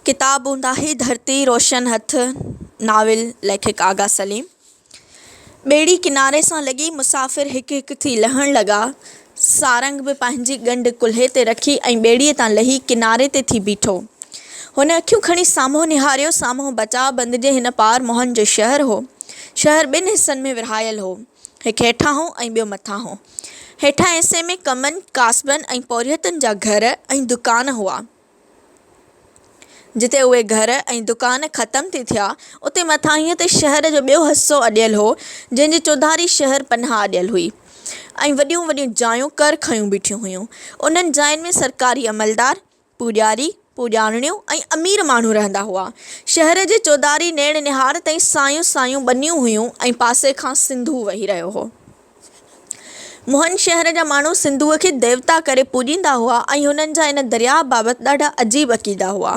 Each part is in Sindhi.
ڪتاب هوندا هي ڌرتي روشن هٿ ناول ليکڪ آغا سليم ٻيڙي ڪناري سان لڳي مسافر هڪ هڪ ٿي لهڻ لڳا سارنگ به پنهنجي ڳنڍ ڪلهي تي رکي ۽ ٻيڙي تان لهي ڪناري تي ٿي بيٺو هن اکيون کڻي سامهون نهاريو سامهون بچاء بند جي هن پار موهن جو شهر هو شهر ٻن حصن ۾ ورهايل هو هڪ هيٺان هو ۽ ٻيو مٿان هو. هيٺان حصي ۾ ڪمن، ڪاسبن ۽ پورهيتن جا گهر ۽ دڪان هئا. جتي اهي گهر ۽ دڪان ختم ٿي ٿيا، اتي مٿانهينء تي شهر جو ٻيو حصو اڏيل هو، جنهن جي چوڌاري شهر پناهه اڏيل هئي ۽ وڏيون وڏيون جايون ڪر کنيون بيٺيون هيون. انهن جاين ۾ سرڪاري عملدار، پوڄاري، پوڄارڻيون ۽ امير ماڻهو رهندا هئا. شهر جي چوڌاري نيڻ نهار تائين سايون سايون ٻنيون هيون ۽ پاسي کان سنڌو وهي رهيو هو. موهن شهر جا ماڻهو سنڌوء کي ديوتا ڪري پوڄيندا هئا ۽ هنن جا ان درياهه بابت ڏاڍا عجيب عقيدا هئا.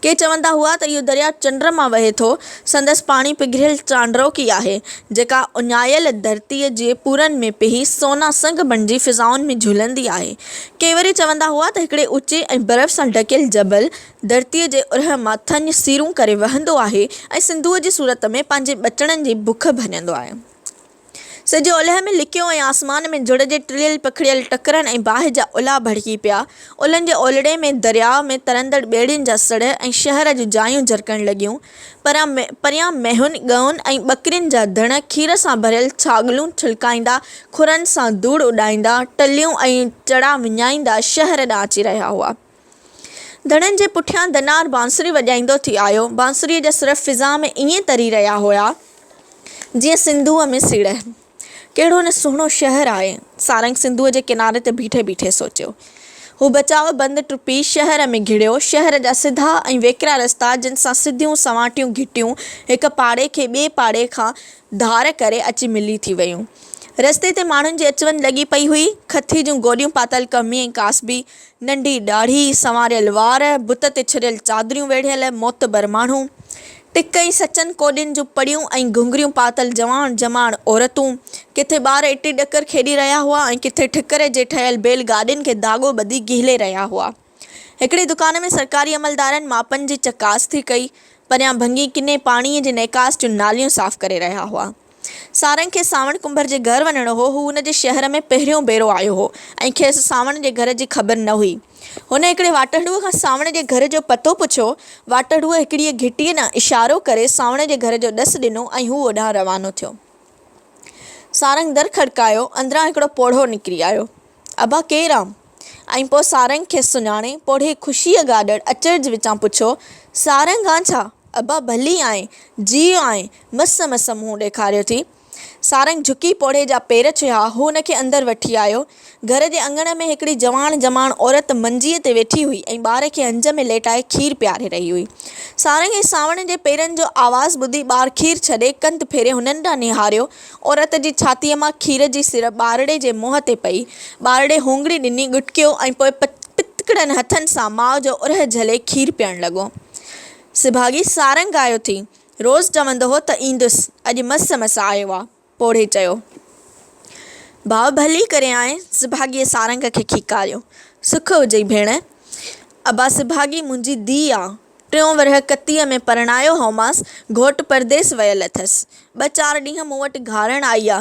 ڪي چوندا هئا ته اهو درياهه چنڊ مان وهي ٿو، سندس پاڻي پگهريل چانڊروڪي آهي، جيڪا اڃايل ڌرتيء جي پورن ۾ پيهي سونا سنگ بڻجي فضائن ۾ جهلندي آهي. ڪي وري چوندا هئا ته هڪڙي اوچي ۽ برف سان ڍڪيل جبل ڌرتيء جي اورهه مان ٿڃ سيرون ڪري وهندو آهي ۽ سنڌوء جي صورت ۾ پنهنجي ٻچڙن جي بک ڀڃندو آهي. سج اولهه ۾ لڪيو ۽ آسمان ۾ جڙ جي ٽڙيل پکڙيل ٽڪرن ۽ باهه جا الا ڀڙڪي پيا. اولهن جي اولڙي ۾ درياء ۾ ترندڙ ٻيڙين جا سڙهه ۽ شهر جون جايون جرڪڻ لڳيون. پريان مينهن، ڳئون ۽ ٻڪرين جا ڌڻ، کير سان ڀريل ڇاڳلون ڇلڪائيندا، کورن سان ڌوڙ اڏائيندا، ٽليون ۽ چڙا وڃائيندا شهر ڏانهن اچي رهيا هئا. ڌڻن جي پٺيان دنار بانسري وڄائيندو ٿي آيو. بانسريء جا سر فضا ۾ ائين تري رهيا هيا، جيئن سنڌوء ۾ سيڙهه. ڪهڙو نه سهڻو شهر آهي. سارنگ سنڌوء جي ڪناري تي بيٺي بيٺي سوچيو. هو بچاء بند ٽپي شهر ۾ گهڙيو. شهر جا سڌا ۽ ويڪرا رستا جن سان سڌيون سنواٽيون گهٽيون هڪ پاڙي کي ٻئي پاڙي کان ڌار ڪري اچي ملي ٿي ويون. رستي تي ماڻهن جي اچ وڃ لڳي پئي هئي. کٿي جون گوڏيون پاتل ڪهمي ۽ ڪاسبي، ننڍي ڏاڙهي، سنواريل وار، بت تي ڇريل چادريون ويڙهيل، معتبر ماڻهو، ٽڪ ۽ سچن ڪوڏين جون پڙيون ۽ گهنگهريون پاتل جوان جماڻ عورتون، ڪٿي ٻار اٽي ڏڪر کيڏي رهيا هئا ۽ ڪٿي ٺڪري جي ٺهيل بيل گاڏين کي ڌاڳو ٻڌي گهلي رهيا هئا. هڪڙي دڪان ۾ سرڪاري عملدارن ماپن جي چڪاس ٿي ڪئي، پريان ڀنگي ڪني پاڻيء جي نيڪاس جون ناليون صاف ڪري رهيا هئا. سارنگ کي سانوڻ ڪنڀر جي گهر وڃڻو هو. هو ان جي شهر ۾ پهريون ڀيرو آيو هو ۽ کيس سانوڻ جي گهر جي خبر نه هئي. هن هڪڙي واٽهڙوء کان سانوڻ جي گهر جو پتو پڇيو. واٽهڙوء هڪڙيء گهٽيء ڏانهن اشارو ڪري سانوڻ جي گهر جو ڏس ڏنو ۽ هو اوڏانهن روانو ٿيو. سارنگ در کڙڪايو. اندران هڪڙو پوڙهو نڪري آيو. ابا ڪير آ؟ ۽ پوء سارنگ کيس سڃاڻي پوڙهي خوشيء گاڏڙ اچرج وچان پڇيو، سارنگ آن ڇا؟ ابا ڀلي آئين، جيئو آئين، مس مس منهن ڏيکاريو ٿي. سارنگ جهڪي پوڙهي جا پير ڇهيا، هو هن کي اندر وٺي آيو. گهر جي اڱڻ ۾ هڪڙي جواڻ جماڻ عورت منجيء تي ويٺي هئي ۽ ٻار کي هنج ۾ ليٽائي کير پياري رهي هئي. سارنگ ۽ سانوڻ جي پيرن جو آواز ٻڌي ٻار کير ڇڏي ڪنڌ ڦيري هنن ڏانهن نهاريو. عورت جي ڇاتيء مان کير جي سر ٻارڙي جي منهن تي پئي. ٻارڙي هونگڙي ڏني، ڳٽڪيو ۽ پوء پتڪڙن هٿن سان ماء جو اورهه جهلي کير پيئڻ لڳو. سڀاڳي سارنگ آيو ٿي. روز چوندو هو ته ايندس، اڄ مس مس آيو آ. پوڙهي چيو. ڀاء ڀلي ڪري آئين. سڀاڳيء سارنگ کي کيڪاريو. سک هجئي ڀيڻ. ابا سڀاڳي منهنجي ڌيء آ. ٽيون ورهيه ڪتيء ۾ پرڻايو هومانس، گهوٽ پرديس ويل اٿس. ٻه چار ڏينهن مون وٽ گهارڻ آئي آ.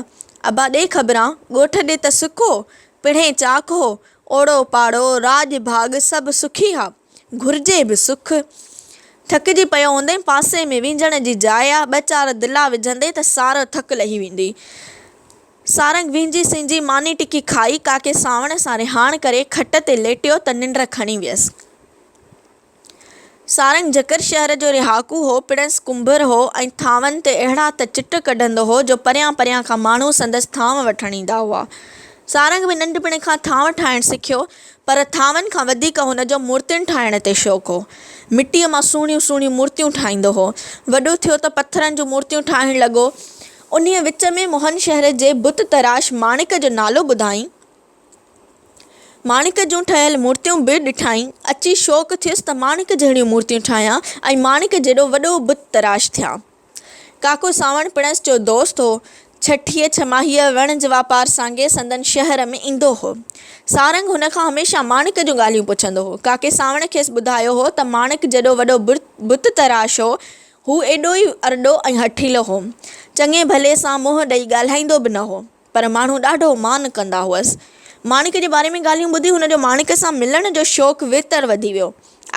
ابا ڏي خبران، ڳوٺ ڏي ته سک هو، پڻهين چاڪ هو، اوڙو پاڙو، راڄ ڀاڳ سڀ سکي ها. گهرجي به سک. ٿڪجي پيو هوندين، پاسي ۾ وينجهڻ جي جاء آ، ٻه چار دلا وجهندين ته سارو ٿڪ لهي ويندي. سارنگ وينجهي سينجهي ماني ٽڪي کائي، ڪاڪي سانوڻ سان رهاڻ ڪري، کٽ تي ليٽيو ته ننڊ کڻي ويس. سارنگ جکر شهر جو رهاڪو هو، پڻس ڪنڀر هو ۽ ٿانون تي اهڙا ته چٽ ڪڍندو هو جو پريان پريان کان ماڻهو سندس ٿانو وٺڻ ايندا هئا. سارنگ به ننڍپڻ کان ٿانو ٺاهڻ سکيو، پر ٿانون کان وڌيڪ هن جو مورتين ٺاهڻ تي شوق هو. مٽيء مان سهڻيون سهڻيون مورتيون ٺاهيندو هو. وڏو ٿيو ته پٿرن جون مورتيون ٺاهڻ لڳو. انهيء وچ ۾ موهن شهر جي بت تراش ماڻڪ جو نالو ٻڌائين. ماڻڪ جون ٺهيل مورتيون به ڏٺائين. اچي شوق ٿيس ته ماڻڪ جهڙيون مورتيون ٺاهيان ۽ ماڻڪ جيڏو وڏو بت تراش ٿيان. ڪاڪو سانوڻ پڻس جو دوست هو. ڇٺيء ڇماهيء وڻ جي واپار سانگي سندن شهر ۾ ايندو هو. سارنگ هن کان هميشه ماڻڪ جون ڳالهيون پڇندو هو. ڪاڪي سانوڻ کيس ٻڌايو هو ته ماڻڪ جيڏو وڏو بت تراش هو. هو ايڏو ئي ارڏو ۽ هٺيلو هو. چڱي ڀلي سان منهن ڏئي ڳالهائيندو به نه هو. پر ماڻهو ڏاڍو مان ڪندا هئس. ماڻڪ جي باري ۾ ڳالهيون ٻڌي هن جو ماڻڪ سان ملڻ جو شوق ويتر وڌي ويو.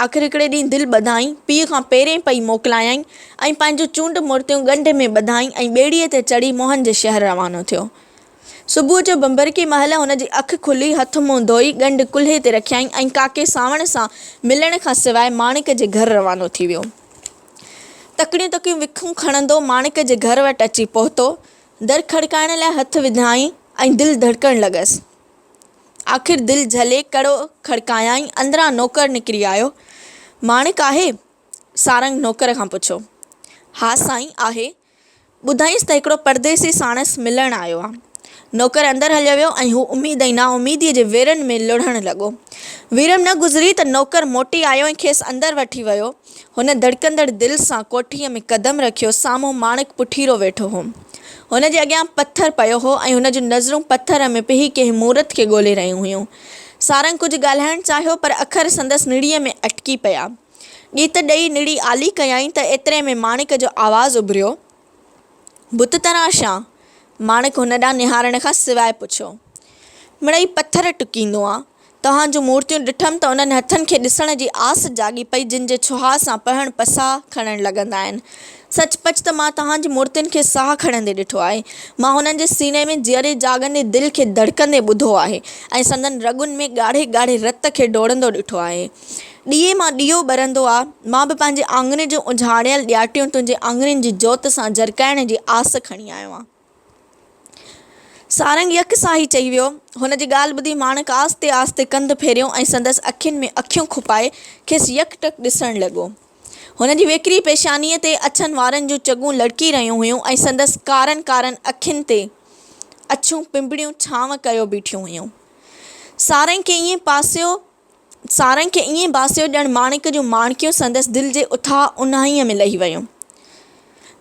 آخر هڪڙي ڏينهن دل ٻڌائين، پيء کان پيرين پئي موڪلايائين ۽ پنهنجون چونڊ مورتيون ڳنڍ ۾ ٻڌائين ۽ ٻيڙيء تي چڙهي موهن جي شهر روانو ٿيو. صبح جو بنبرڪي مهل هن جي اک کلي، هٿ منهن ڌوئي، ڳنڍ ڪلهي تي رکيائين ۽ ڪاڪي سانوڻ سان ملڻ کان سواء ماڻڪ جي گهر روانو ٿي ويو. تڪڙيون تڪڙيون وکون کڻندو ماڻڪ جي گهر وٽ اچي پهتو. در کڙڪائڻ لاء هٿ وڌائين ۽ دل ڌڙڪڻ لڳس. آخر دل جهلي ڪڙو کڙڪايائين، اندران نوڪر نڪري آيو. ماڻڪ آهي؟ سارنگ نوڪر کان پڇيو. ها سائين آهي. ٻڌائينس ته هڪڙو پرديسي ساڻس ملڻ آيو آ. نوڪر اندر هليو ويو ۽ هو اميد ۽ نااميديء جي ويرن ۾ لڙهڻ لڳو. ويرم نه گذري ته نوڪر موٽي آيو ۽ کيس اندر وٺي ويو ۽ هن ڌڙڪندڙ دل سان ڪوٺيء ۾ قدم رکيو، سامهون ماڻڪ پٺيرو ويٺو هو. هن جي اڳيان پٿر پيو هو ۽ هن جون نظرون پٿر ۾ پيهي ڪنهن مورت کي ڳولي رهيون هيون. سارنگ ڪجهه ڳالهائڻ چاهيو پر اکر سندس نڙيء ۾ اٽڪي پيا. ڳيت ڏئي نڙي آلي ڪيائين ته ايتري ۾ ماڻڪ جو آواز اڀريو. بت تراشان ماڻڪ هن ڏانهن نهارڻ کان سواء پڇيو. مڙئي پٿر ٽڪيندو آ. توهان جون مورتيون ڏٺم ته انهن هٿن کي ڏسڻ جي آس جاڳي پئي جن جي ڇهاء سان پهڻ پساء کڻڻ لڳندا آهن. سچ پچ ته مان توهان جي مورتين کي ساهه کڻندي ڏٺو آهي. مان هنن جي سيني ۾ جيئري جاڳندي دل کي ڌڙڪندي ٻڌو آهي ۽ سندن رڳن ۾ ڳاڙهي ڳاڙهي رت کي ڊوڙندو ڏٺو آهي. ڏيئي مان ڏيئو ٻرندو آ، مان به پنهنجي آڱرين جون اجهاڙيل ڏياٽيون تنهنجي آڱرين جي جوت سان جرڪائڻ جي آس کڻي آيو آهيان. سارنگ يڪ ساهه ئي چئي ويو. هن جي ڳالهه ٻڌي ماڻڪ آهستي آهستي ڪنڌ ڦيريو ۽ سندس اکين ۾ اکيون کپائي کيس يڪ ٽڪ ڏسڻ لڳو. هن جي ويڪري پيشانيء تي اڇن وارن جون چڳون لڙڪي رهيون هيون ۽ سندس ڪارن ڪارن اکين تي اڇون پنبڻيون ڇانو ڪيو بيٺيون هيون. سارنگ کي ائين پاسيو. سارنگ کي ائين باسيو ڄڻ ماڻڪ جون ماڻڪيون سندس دل جي اٿاهه اونهائيء ۾ لهي ويون.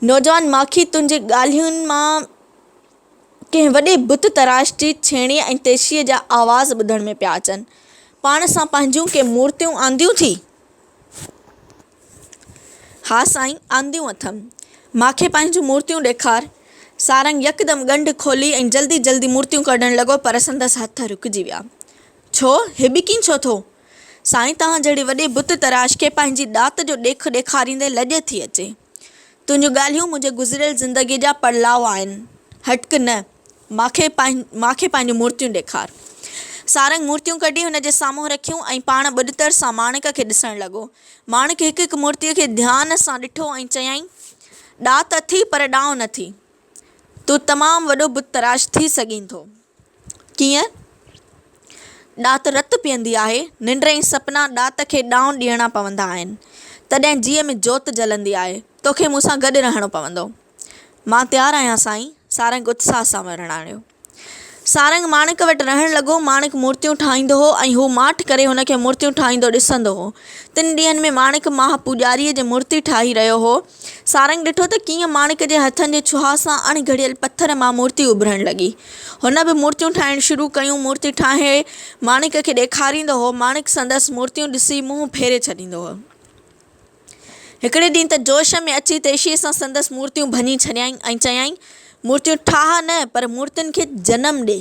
نوجوان ماکي تنهنجي ڳالهين مان ڪنهن وڏي بت تراش جي ڇيڻي ۽ تيشيء جا آواز ٻڌڻ ۾ پيا اچن. پاڻ سان پنهنجون ڪي مورتيون آنديون ٿي؟ ها سائين، آنديون اٿم. ماکي پنهنجون مورتيون ڏيکار. سارنگ يڪدم ڳنڍ کولي ۽ جلدي جلدي مورتيون ڪڍڻ لڳو پر سندس هٿ رڪجي ويا. ڇو، هي به ڪين ڇو ٿو؟ سائين توهان جهڙي وڏي بت تراش کي پنهنجي ڏات جو ڏيک ڏيکاريندي لڄ ٿي اچي. تنهنجون ڳالهيون منهنجي گذريل زندگيء جا پڙلاء آهن. هٽڪ نه، مان کي مان کي پنهنجون مورتيون ڏيکار. سارنگ مورتيون ڪڍي هن جي سامهون رکيون ۽ پاڻ ٻڏتر سان ماڻڪ کي ڏسڻ لڳو. ماڻڪ هڪ هڪ مورتيء کي ڌيان سان ڏٺو ۽ چيائين، ڏات اٿئي پر ڏانء نٿي. تون تمام وڏو بت تراش ٿي سگهين ٿو. ڪيئن؟ ڏات رت پيئندي آهي، ننڊ ۽ سپنا ڏات کي ڏانء ڏيڻا پوندا آهن، تڏهن جيء ۾ جوت جلندي آهي، توکي مون سان گڏ رهڻو پوندو. مان تيار آهيان سائين، سارنگ اتساهه سان ورڻايو. سارنگ ماڻڪ وٽ رهڻ لڳو. ماڻڪ مورتيون ٺاهيندو هو ۽ هو ماٺ ڪري هن کي مورتيون ٺاهيندو ڏسندو هو. تن ڏينهن ۾ ماڻڪ ماهه پوڄاريء جي مورتي ٺاهي رهيو هو. سارنگ ڏٺو ته ڪيئن ماڻڪ جي هٿن جي ڇهاء سان اڻ گهڙيل پٿر مان مورتي اڀرڻ لڳي. هن به مورتيون ٺاهڻ شروع ڪيون. مورتي ٺاهي ماڻڪ کي ڏيکاريندو هو. ماڻڪ سندس مورتيون ڏسي منهن ڦيري ڇڏيندو هو. هڪڙي ڏينهن ته جوش ۾ اچي تيشيء سان سندس مورتيون ڀڃي ڇڏيائين ۽ چيائين، مورتيون ٺاهه نه، پر مورتين کي جنم ڏي.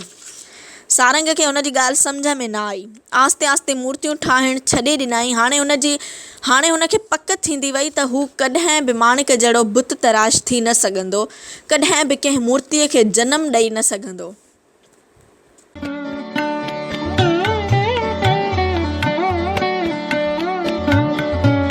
سارنگ کي هن جي ڳالهه سمجهه ۾ نه آئي. آهستي آهستي مورتيون ٺاهڻ ڇڏي ڏنائين. هاڻي هن جي هاڻي هن کي پڪ ٿيندي وئي ته هو ڪڏهن به ماڻڪ جهڙو بت تراش ٿي نه سگهندو، ڪڏهن به ڪنهن مورتيء کي جنم ڏئي نه سگهندو.